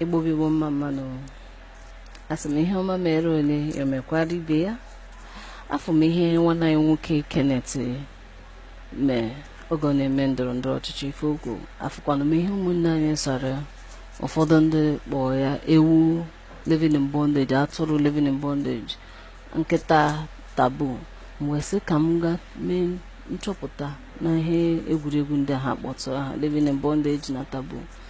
Igbo bụ Igbo mma mmanụ asị m ihe ọma mere onye ya mekwara ibe ya afụ m ihe nwanne anyị nwoke Kenneth mee oge ọ na-eme ndọrọ ndọrọ ọchịchị ife o kwu afụkwana m ihe ụmụnne anyị sara ụfọdụ ndị kpọọ ya ewu living in bondage atụrụ living in bondage nkịta Taboo m wee sị ka m ga mee nchọpụta na ihe egwuregwu ndị ha kpọtụrụ aha living in bondage na Taboo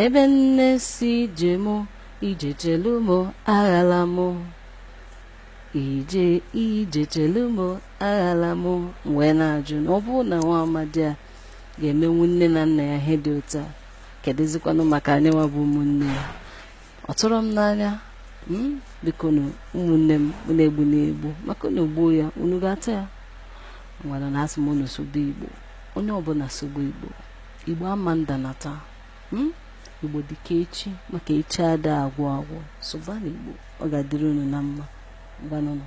ebe nne si ije mụ ije chelu mụ aghala mụ ije chelu mụ aghala mụ m wee na-ajụ na ọ bụrụ na nwa amadi a ga-emenwu nne na nna ya ihe dị otu a kedụzikwanụ maka anyị nwa bụ ụmụnne ya ọ tụrụ m n'anya m biko nụ ụmụnne m unu egbuna egbu maka unu gbuo ya unu ga-ata ya ngwanụ na asị m unu sụba igbo onye ọbụla sụba igbo igbo ama nda na taa hmm? igbo dịka echi maka echi ada agwụ agwụ sụbanụ igbo ọ ga-adịrị unu na mma ngwanụnụ